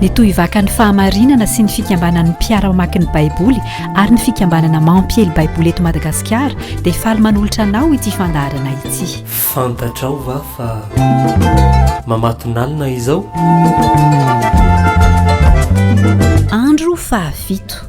dia toy vakan'ny fahamarinana sy ny fikambanan'ny mpiara mamaky ny baiboly ary ny fikambanana mampiely baiboly eto madagasikara dia faly manolotra anao ity fandaharana ity fantatrao va fa mamatonalina izao andro fahafito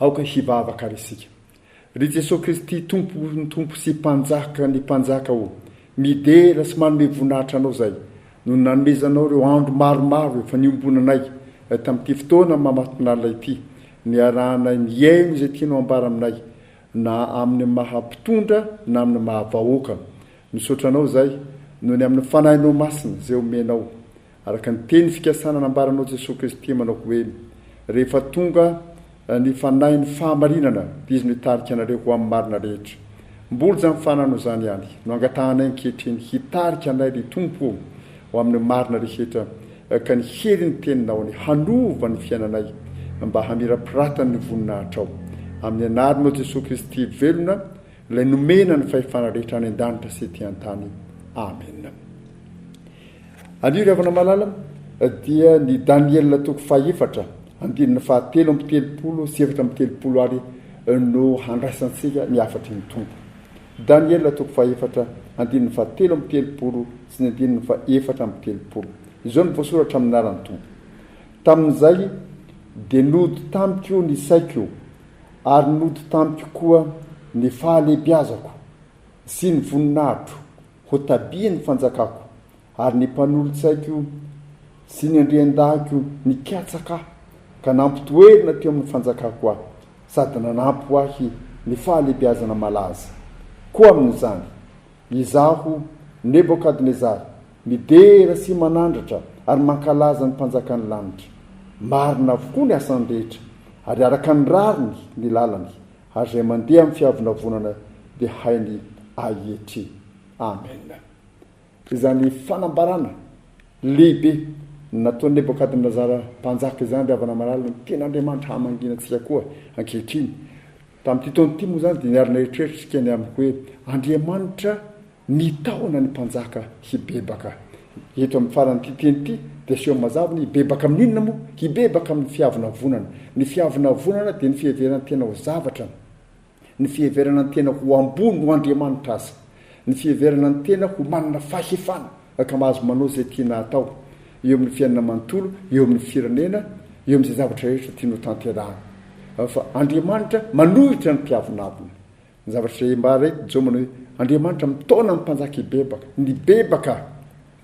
Aoka hivavaka ary isika. Ry Jesoa Kristy, Tompon'ny tompo sy Mpanjakan'ny mpanjaka ô, midera sy manome voninahitra Anao izay noho ny nanomezanao ireo andro maromaro efa niombonanay tamin'ity fotoana mamatonalina ity, niarahanay nihaino izay tianao hambara aminay, na amin'ny maha mpitondra na amin'ny maha vahoaka. Misaotra Anao izay noho ny amin'ny Fanahinao Masina izay omenao Araka ny teny fikasana nambaranao Jesosy Kristy manao hoe, Rehefa tonga ny Fanahin'ny fahamarinana, dia Izy no hitarika anareo ho amin'ny marina rehetra. Mbola izany fananao izany ihany no angatahanay ankehitriny, hitarika anay ry Tompo ô, ho amin'ny marina rehetra, ka ny herin'ny Teninao ny hanova ny fiainanay mba hamirapiratany ny voninahitrao. Amin'ny Anaranao Jesosy Kristy velona, Ilay nomena ny fahefana rehetra any an-danitra sy ety an-tany. Amena. Alio ry havana malala dia ny Daniela toko fahefatra andininy fahatelo amby telopolo sy efatra amby telopolo ary no handraisantsika ny hafatry ny Tompo. Daniela toko fahefatra andininy fahatelo amby telopolo sy ny andininy fahefatra amby telopolo. Izao no voasoratra amin'ny anaran'ny Tompo. Tamin'izay dia nody tamiko ny saiko ary nody tamiko koa ny fahalehibiazako sy ny voninahitro Ho tabian'ny fanjakako ary ny mpanolotsaiko sy ny andriandahiko nikatsaka ahy ka nampitoerina teo amin'ny fanjakako ahy sady nanampy ho ahy ny fahalehibiazana malaza. Koa amin'izany, izaho, Nebokadnezara, midera sy manandratra ary mankalaza ny Mpanjakan'ny lanitra. Marina avokoa ny asany rehetra, ary araka ny rariny ny lalany. Ary izay mandeha amin'ny fiavonavonana dia hainy ahietry. Amena. Izany fanambarana lehibe nataon'i Nebokadnezara mpanjaka izany, ry havana malala, no tian'Andriamanitra hamangiana antsika koa ankehitriny. Tamin'ity taona ity moa izany dia niara-nieritreritra isika ny amin'ny hoe Andriamanitra Mitahona ny mpanjaka hibebaka. Eto amin'ny faran'ity teny ity dia aseho mazava ny hibebaka amin'ny inona moa? Hibebaka amin'ny fiavonavonana. Ny fiavonavonana dia ny fiheveran-tena ho zavatra, ny fiheverana ny tena ho ambony noho Andriamanitra aza, ny fiheverana ny tena ho manana fahefana ka mahazo manao izay tiana atao eo amin'ny fiainana manontolo, eo amin'ny firenena, eo amin'izay zavatra rehetra tiany hotanterahina. Fa Andriamanitra manohitra ny mpiavonavona. Ny zavatra izay ambara eto Jomana hoe Andriamanitra mitaona ny mpanjaka hibebaka, nibebaka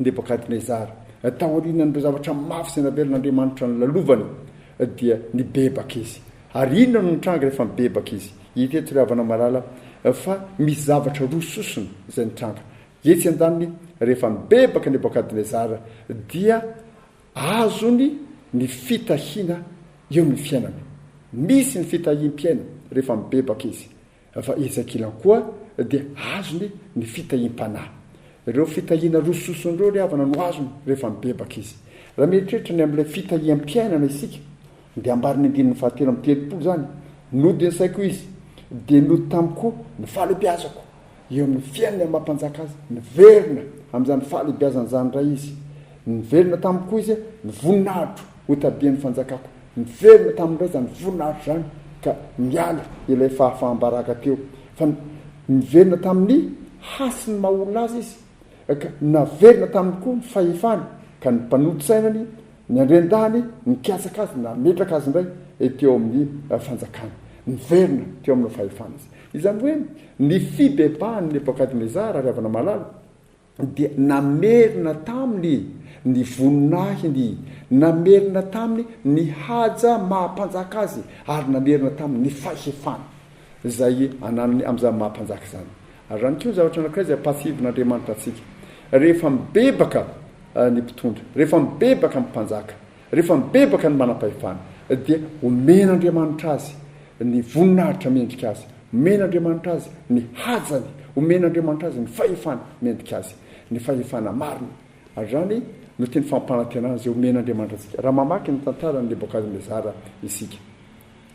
Nebokadnezara, taorianan'ireo zavatra mafy izay navelan'Andriamanitra nolalovany dia nibebaka izy. Ary inona no nitranga rehefa nibebaka izy? Hita eto ry havana malala fa misy zavatra roa sosona izay nitranga. Etsy an-daniny, rehefa nibebaka Nebokadnezara dia Azony ny fitahiana eo ny fiainana. Misy ny fitahiam-piaina rehefa mibebaka izy, fa ezakilany koa dia azony ny fitahiam-panahy. Ireo fitahiana roa sosony ireo ry havana no azony rehefa mibebaka izy. Raha mieritreritra ny amin'ilay fitahiam-piainana isika, dia ambaran'ny andininy fahatelo amby telopolo izany, Nody ny saiko izy, dia nody tamiko ny fahalebiazako. Eo amin'ny fiainany amam-panjaka azy, niverina amin'izany fahalehibiazana izany indray izy. Niverina taminy koa izy, ny voninahitro hotadian'ny fanjakako. Niverina taminy indray izany voninahitro izany, ka niala ilay fahafaham-baraka teo. Fa niverina tamin'ny hasin'ny maha olona azy izy, ka naverina taminy koa ny fahefany, ka ny mpanolo sainany niandry an-dahiny nikatsaka azy, nametraka azy indray teo amin'ny fanjakany. Niverina teo amin'ny fahefany izy. Izany hoe ny fibebahan'i Nebokadnezara, ry havana malala, dia namerina taminy ny voninahiny, namerina taminy ny haja maha mpanjaka azy, ary namerina taminy ny fahefana izay ananany amin'izany maha mpanjaka izany. Ary ihany koa ny zavatra anankiray izay ampahatsiahivin'Andriamanitra antsika, rehefa mibebaka ny mpitondra, rehefa mibebaka ny mpanjaka, Rehefa mibebaka ny manam-pahefana, dia omen'Andriamanitra azy ny voninahitra mendrika azy, omen'Andriamanitra azy ny hajany, omen'Andriamanitra azy ny fahefana mendrika azy, ny fahefana marina. Ary izany no teny fampanantenana izay omen'Andriamanitra antsika, raha mamaky ny tantaran'i Nebokadnezara isika.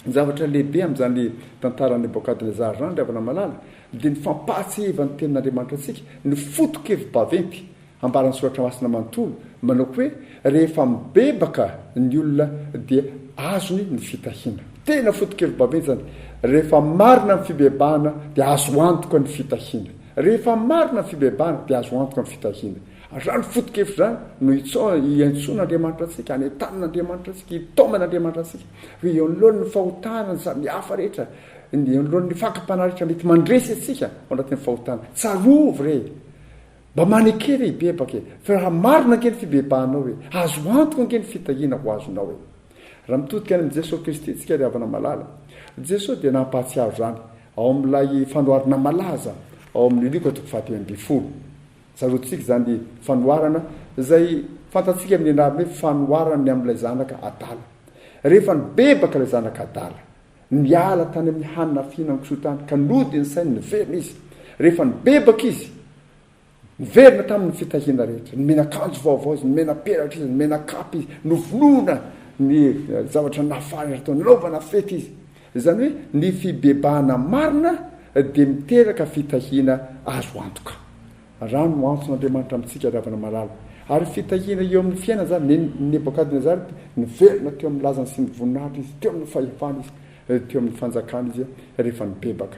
Ny zavatra lehibe amin'izany tantaran'i Nebokadnezara izany, ry havana malala, dia ny fampahatsiahivan'ny Tenin'Andriamanitra antsika ny foto-kevi-baventy Ambaran'ny Soratra Masina manontolo manao hoe rehefa mibebaka ny olona dia azony ny fitahiana. Tena foto-kevi-bavenjana, rehefa marina ny fibebahana dia azo antoka ny fitahiana. Rehefa marina ny fibebahana dia azo antoka ny fitahiana. Azany foto-kevitra izany no iantsoan'Andriamanitra antsika, anentanin'Andriamanitra antsika, itaoman'Andriamanitra antsika. Hoe eo anoloan'ny fahotana samihafa rehetra, eo anoloan'ny fakam-panahy rehetra mety mandresy antsika ao anatin'ny fahotana, tsarovy re Mba maneke ve hibebaka e! Fa raha marina ange ny fibebahanao e! Azo antoka ange ny fitahiana ho azonao e! Raha mitodika any amin'i Jesoa Kristy isika ry havana malala, Jesoa dia nampahatsiaro izany ao amin'ilay fanoharana malaza ao amin'ny Lioka toko fahatelo ambin'ny folo. Tsaroantsika izany fanoharana izay fantatsika amin'ny anarany hoe fanoharana ny amin'ilay zanaka adala. Rehefa nibebaka ilay zanaka adala. Niala tany amin'ny hanina fihinan'ny kisoa tany ka nody ny sainy niverina izy. Rehefa nibebaka izy, niverina tamin'ny fitahiana rehetra. Nomena akanjo vaovao izy, nomena peratra izy, nomena kapa izy, novonoina ny zavatra nafahana rehetra tao, nanaovana fety izy. Izany hoe ny fibebahana marina dia miteraka fitahiana azo antoka. Rano no antson' Andriamanitra amintsika ry havana malala. Ary fitahiana eo amin' ny fiainana izany. Nen' i Nebôkadnezara dia niverina teo amin' ny lazany sy ny voninahitr' izy, teo amin' ny fahefany izy, teo amin' ny fanjakany izy rehefa nibebaka.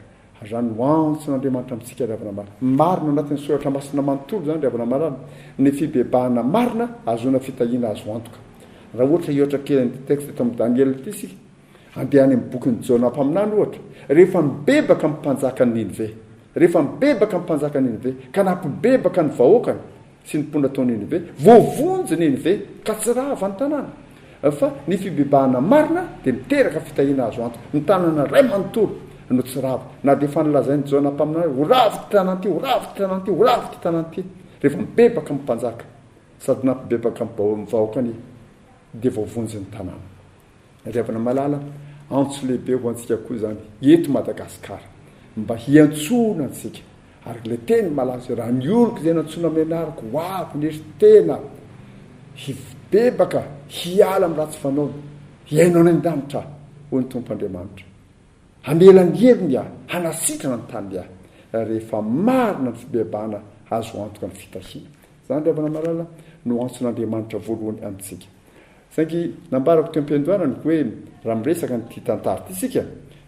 Rano no antson' Andriamanitra amintsika ry havana malala. Marina ao anatin' ny Soratra Masina manontolo izany ry havana malala. Ny fibebahana marina ahazoana fitahiana azo antoka. Raha ohatra hihoatra kely an' ity texte eto amin' ny Daniela ity isika, Andeha any amin'ny bokin'i Jona mpaminany, ohatra, Rehefa mibebaka ny mpanjakan'i Ninive, rehefa mibebaka ny mpanjakan'i Ninive, ka nampibebaka ny vahoakany sy ny mponina tao Ninive, voavonjy Ninive ka tsy rava ny tanàna. Fa ny fibebahana marina dia miteraka fitahiana azo antoka. Ny tanàna iray manontolo no tsy rava, na dia efa nolazain'i Jona mpaminany hoe, Ho rava ity tanàna ity, ho rava ity tanàna ity, ho rava ity tanàna ity. Rehefa mibebaka ny mpanjaka sady nampibebaka ny vahoakany, dia voavonjy ny tanàna. Ry havana malala, antso lehibe ho antsika koa izany eto Madagasikara mba hiantsoana antsika ary ilay teny malaza hoe raha ny oloko izay nantsoina amin'ny anarako ho avy nery tena hibebaka hiala amin'ny ratsy fanaony hiaino any an-danitra hoy ny Tompo Andriamanitra. Hamela ny heriny aho, hanasitrana ny taniny aho rehefa marina ny fibebahana azo antoka ny fitahiana. Izany ry havana malala no antson'Andriamanitra voalohany amintsika. Saingy nambarako teo am-piandohanany hoe raha miresaka an'ity tantara ity isika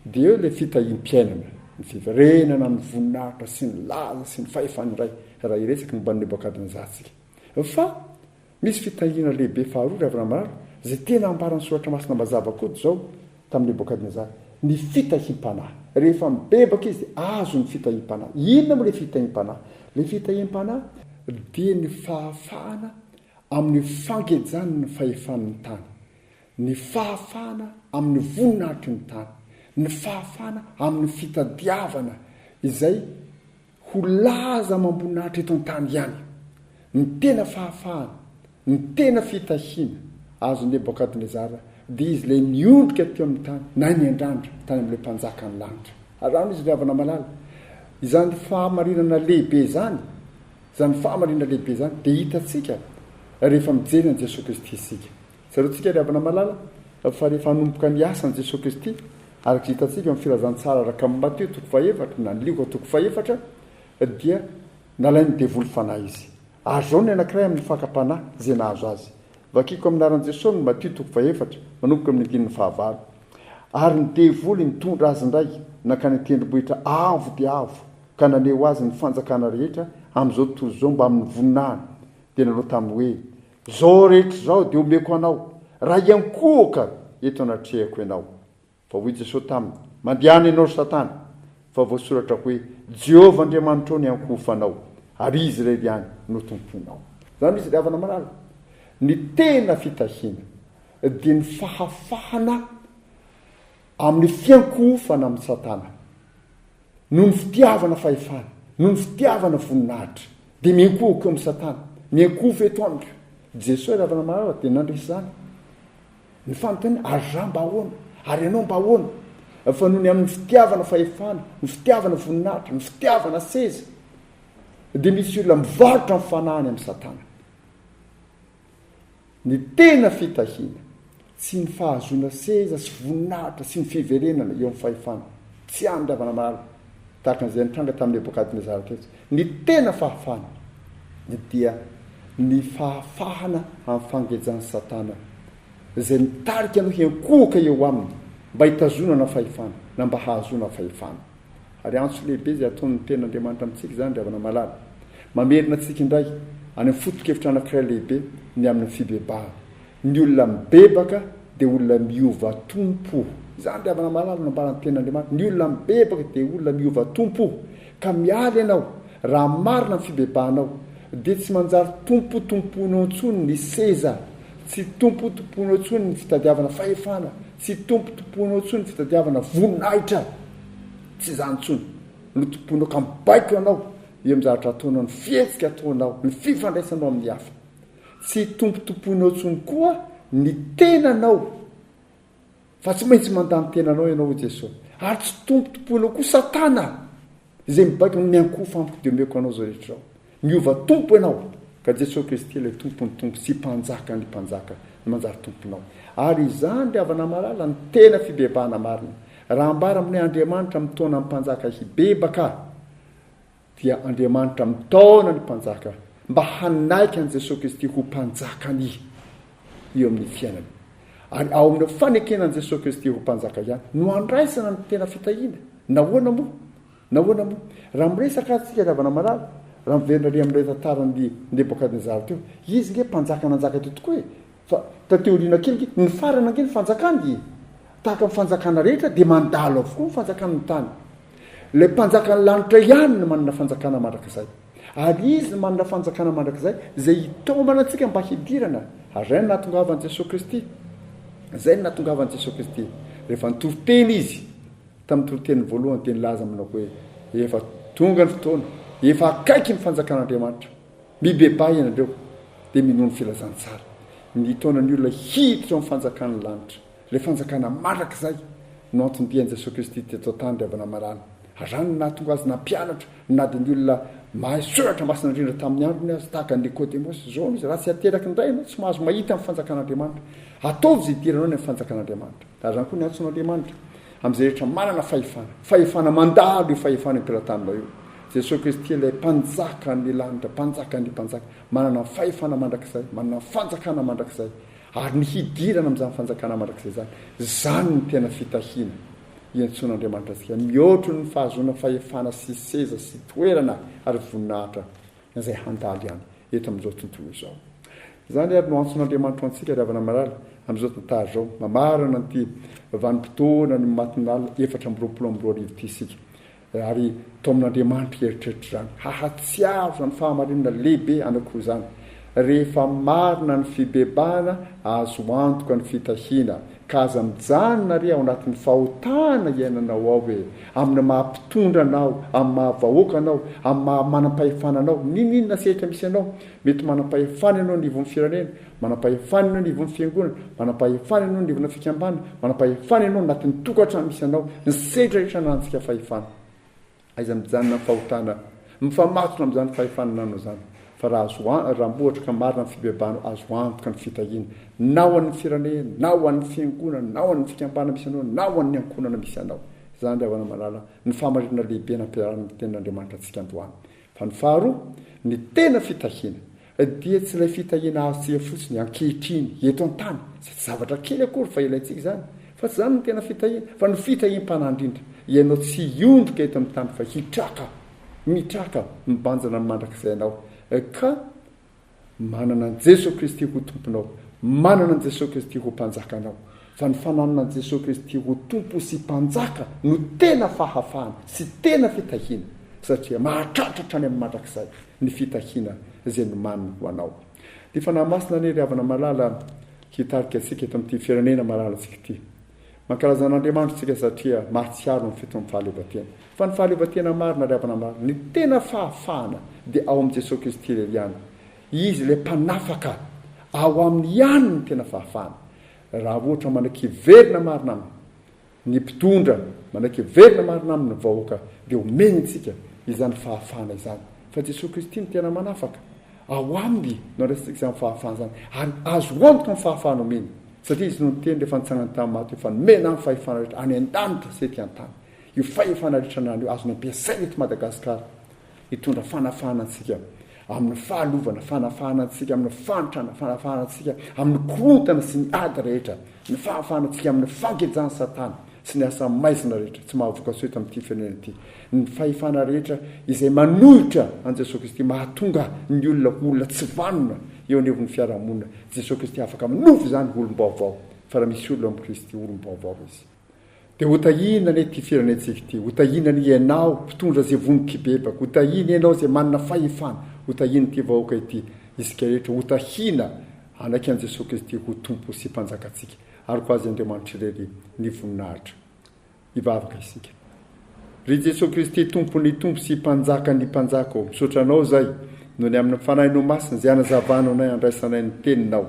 dia eo ilay fitahiam-piainana, ny fiverenana amin'ny voninahitra sy ny laza sy ny fahefan'ny Ray raha hiresaka momba an'i Nebokadnezara isika. Fa misy fitahiana lehibe faharoa, ry havana mirary, izay tena ambaran'ny Soratra Masina mazava koa izao tamin'i Nebokadnezara, ny fitahiam-panahy. Rehefa mibebaka izy dia azony ny fitahiam-panahy. Inona moa ilay fitahiam-panahy? Ilay fitahiam-panahy dia ny fahafahana amin'ny fangejany ny fahefan'ny tany, ny fahafahana amin'ny voninahitry ny tany, ny fahafahana amin'ny fitadiavana izay ho laza amam-boninahitra eto an-tany ihany, ny tena fahafahana, ny tena fitahiana azon'i Nebokadnezara, dia izy ilay niondrika teo amin'ny tany na niandrandra tany amin'ilay Mpanjakan'ny lanitra. Araho ny izy ry havana malala, izany fahamarinana lehibe izany Izany fahamariana lehibe izany dia hitantsika rehefa mijery an'i Jesoa Kristy isika. Tsaroantsika ry havana malala fa rehefa hanomboka ny asany Jesoa Kristy, araka izay hitantsika ao amin'ny Filazantsara araka amin'i Matio toko fahefatra na ny Lioka toko fahefatra, dia nalain'ny devoly fanahy izy. Ary izao ny anankiray amin'ny fakam-panahy izay nahazo azy. Vakiko amin'ny anaran'i Jesoa ny Matio toko fahefatra, manomboka amin'ny andininy fahavalo. Ary ny devoly nitondra azy indray nankany an-tendrombohitra avo dia avo. ka naneho azy ny fanjakana rehetra amin'izao tontolo izao mbamin'ny voninahiny, dia nanao taminy hoe, Izao rehetra izao dia omeko anao, raha hiankohoka eto anatrehako ianao. Fa hoy Jesosy taminy, Mandehana ianao ry Satana, fa voasoratra hoe, Jehovah Andriamanitrao no hiankohofanao, ary Izy irery ihany no tompoinao. Izany misy diavana malala. Ny tena fitahiana dia ny fahafahana amin'ny fiankohofana amin'i Satana. Noho ny fitiavana fahefana, noho ny fitiavana voninahitra, dia miankohoka eo amin'i Satana, miankohoka eto amiko. Jesoa Ravana Marara dia nandresy izany. Ny fanontaniana, ary rà mba ahoana? Ary ianao mba ahoana? Fa noho ny amin'ny fitiavana fahefana, ny fitiavana voninahitra, ny fitiavana seza, dia misy olona mivarotra ny fanahiny amin'i Satana. Ny tena fitahiana, tsy ny fahazoana seza sy voninahitra sy ny fiverenana eo amin'ny fahefana, tsy amin'ny ravanamalala, tahaka an'izay nitranga tamin'i Nebokadnezara teto. Ny tena fahafahana dia ny fahafahana amin'ny fangejan'i Satana, izay mitarika anao hiankohoka eo aminy mba hitazonana fahefana, na mba hahazoana fahefana. Ary antso lehibe izay ataon'ny Tenin'Andriamanitra amintsika izany, ry havana malala. Mamerina antsika indray any amin'ny foto-kevitra anankiray lehibe ny amin'ny fibebahana. Ny olona mibebaka dia olona miova tompo. Izany, ry havana malala, no nambaran'ny Tenin'Andriamanitra. Ny olona mibebaka dia olona miova tompo. Ka miala ianao, raha marina ny fibebahanao, dia tsy manjary tompotompoinao intsony ny seza, tsy tompotompoinao intsony ny fitadiavana fahefana, Tsy tompotompoinao intsony ny fitadiavana voninahitra, tsy izany intsony no tompoinao ka mibaiko anao eo amin'ny zavatra ataonao, ny fihetsika ataonao, ny fifandraisanao amin'ny hafa. Tsy tompotompoinao intsony koa ny tenanao, fa tsy maintsy mandà ny tenanao ianao, hoy Jesosy, ary tsy tompotompoinao koa Satana. Izay mibaiko amin'ny miankohofa amiko dia omeko anao izao rehetra ao. Miova tompo ianao, ka Jesoa Kristy ilay Tompon'ny tompo sy Mpanjakan'ny mpanjaka no manjary tomponao. Ary izany, ry havana malala, no tena fibebahana marina. Raha ambara amin'ny hoe Andriamanitra mitaona ny mpanjaka hibebaka, dia Andriamanitra mitaona ny mpanjaka, mba hanaiky an'i Jesoa Kristy ho Mpanjakan'ny. eo amin'ny fiainana. Ary ao amin'ireo fanekena an'i Jesoa Kristy ho Mpanjaka ihany no andraisana ny tena fitahiana. Nahoana moa? Nahoana moa? Raha miresaka ary tsika ry havana marary, raha miverina ary amin'ilay tantaran'i Nebokadnezara teo, izy nge mpanjaka nanjaka teo tokoa e! Fa taty aoriana kely nge, nifarana nge ny fanjakany e! Tahaka ny fanjakana rehetra dia mandalo avokoa ny fanjakan'ny tany. Ilay mpanjakan'ny lanitra ihany no manana fanjakana mandrakizay. Ary Izy no manana fanjakana mandrakizay izay hitaomana antsika mba hidirana, ary izay no nahatongavan'i Jesoa Kristy, izay no nahatongavan'i Jesoa Kristy, rehefa nitoriteny Izy tamin'ny toriteniny voalohany, dia nilaza aminao hoe, efa tonga ny fotoana, efa akaiky ny fanjakan'Andriamanitra, mibebaha ianareo, dia minoa ny filazantsara, ny hitaona ny olona hiditra ao amin'ny fanjakan'ny lanitra. Ilay fanjakana mandrakizay no antony dian'i Jesoa Kristy teto an-tany ry havana marary. Azany ny nahatonga Azy nampianatra na dia ny olona mahay soratra masina indrindra tamin'ny androny aza, tahaka an'i Nikodemosy. Zao no izy, raha tsy ateraky ny Ray ianao, tsy mahazo mahita ny fanjakan'Andriamanitra. Ataovy izay idiranao ny amin'ny fanjakan'Andriamanitra. Azany koa ny antso an'Andriamanitra amin'izay rehetra manana fahefana. Fahefana mandalo io fahefana ipilatanina io. Jesoa Kristy ilay mpanjakan'ny lanitra, mpanjakan'ny mpanjaka, manana ny fahefana mandrakizay, manana ny fanjakana mandrakizay. Ary ny hidirana amin'izany fanjakana mandrakizay izany, izany no tena fitahiana iantsoan'Andriamanitra antsika, mihoatry ny fahazoana fahefana sy seza sy toerana ary voninahitra izay handalo ihany eto amin'izao tontolo izao. Izany ary no antson'Andriamanitra antsika ry havana mirary amin'izao tantara izao, mamarana an'ity vanim-potoana ny matinalina efatra amby roapolo amby roa arivo ity isika, Ary taomin'Andriamanitra hieritreritra izany. Hahatsiaro izany fahamarinana lehibe anankiroa izany, rehefa marina ny fibebahana, azo antoka ny fitahiana. Ka aza mijanona re ao anatin'ny fahotana iainanao ao e! Amin'ny maha mpitondra anao, amin'ny maha vahoaka anao, amin'ny maha manam-pahefana anao, n'inon'inona sehatra misy anao, mety manam-pahefana ianao anivon'ny firenena, Manam-pahefana ianao eo anivon'ny fiangonana, manam-pahefana ianao eo anivona fikambana, manam-pahefana ianao anatin'ny tokantrano misy anao, ny sehatra rehetra ananantsika fahefana. Aiza mijanona ny fahotana? Mifamatotra amin'izany fahefana anananao izany, fa raha azo raha mbola ohatra ka marina ny fibebahanao, azo antoka ny fitahiana, na ho an'ny firenena, na ho an'ny fiangonana, na ho an'ny fikambana misy anao, na ho an'ny ankohonana misy anao. Izany ry havana malala ny fahamarinana lehibe nampiharana ny tenin'Andriamanitra antsika androany. Fa ny faharoa, ny tena fitahiana, Dia tsy ilay fitahiana azo tsia fotsiny ankehitriny eto an-tany, izay tsy zavatra kely akory fa ilaintsika izany, fa tsy izany no tena fitahiana, fa ny fitahiam-panahy indrindra, ianao tsy hiondrika eto amin'ny tany fa hitraka, mitraka, mibanjina mandrakizay ianao, ka manana an'i Jesoa Kristy ho Tomponao, manana an'i Jesoa Kristy ho Mpanjakanao, fa ny fananana an'i Jesoa Kristy ho Tompo sy Mpanjaka no tena fahafahana sy tena fitahiana, satria mahatratra hatrany amin'ny mandrakizay. ny fitahiana izay nomaniny ho anao. Ny Fanahy Masina anie ry havana malala hitarika antsika eto amin'ity firenena malalantsika ity. Mankalaza an'Andriamanitra isika satria mahatsiaro ny fiton'ny fahaleovantena. Fa ny fahaleovantena marina ry havana malala, ny tena fahafahana dia ao amin'i Jesoa Kristy irery ihany. Izy ilay mpanafaka, ao aminy ihany ny tena fahafahana. Raha ohatra manaiky hiverina marina aminy, Ny mpitondra manaiky hiverina marina aminy ny vahoaka dia omeny antsika izany fahafahana izany. Fa Jesoa Kristy no tena manafaka. Ao Aminy no andraisantsika izany fahafahana izany. Ary azo antoka ny fahafahana omeny. Satria Izy no niteny rehefa nitsangany tamin'ny maty hoe, Fa nomena Ahy ny fahefana rehetra any an-danitra sy ety an-tany. Io fahefana rehetra ananany io azony ampiasaina eto Madagasikara. Hitondra fanafahana antsika amin'ny fahalovana, fanafahana antsika amin'ny fahantrana, fanafahana antsika amin'ny korontana sy ny ady rehetra, ny fahafahana antsika amin'ny fangejan'i Satana sy ny asa maizina rehetra tsy mahavokatsoa eto amin'ity firenena ity, ny fahefana rehetra izay manohitra an'i Jesoa Kristy mahatonga ny olona ho olona tsy vanona eo anivon'ny fiarahamonina, Jesoa Kristy afaka manova izany ho olom-baovao, fa raha misy olona amin'i Kristy, olom-baovao izy. Dia ho tahiana anie ity firenentsika ity, ho tahiana anie ianao mpitondra izay vono kibebaka, ho tahiana ianao izay manana fahefana, ho tahiana ity vahoaka ity, isika rehetra ho tahiana hanaiky an'i Jesoa Kristy ho Tompo sy Mpanjakantsika ary ho azy Andriamanitra irery ny voninahitra. Hivavaka isika. Ry Jesoa Kristy Tompon'ny Tompo sy Mpanjakan'ny Mpanjaka ô, misaotra Anao izay noho ny amin'ny Fanahinao Masina izay anazavanao anay handraisanay ny Teninao,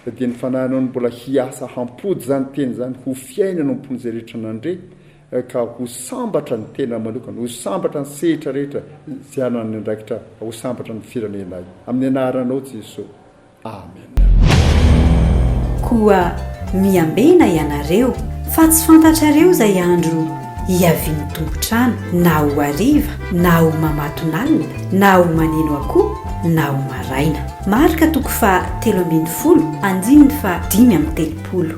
fa dia ny Fanahinao no mbola hiasa hampody izany Teny izany ho fiainana ao am-pon'izay rehetra nandre, ka ho sambatra ny tenany manokana, ho sambatra ny sehitra rehetra izay hananany andraikitra, ho sambatra ny firenenay. Amin'ny Anaranao Jesoa. Amena. Koa miambena ianareo, fa tsy fantatrareo izay andro hiavian'ny tompon-trano, na ho hariva, na ho mamatonalina, na ho maneno akoho, na ho maraina. Marka toko faha telo ambin'ny folo, andininy faha dimy amby telopolo.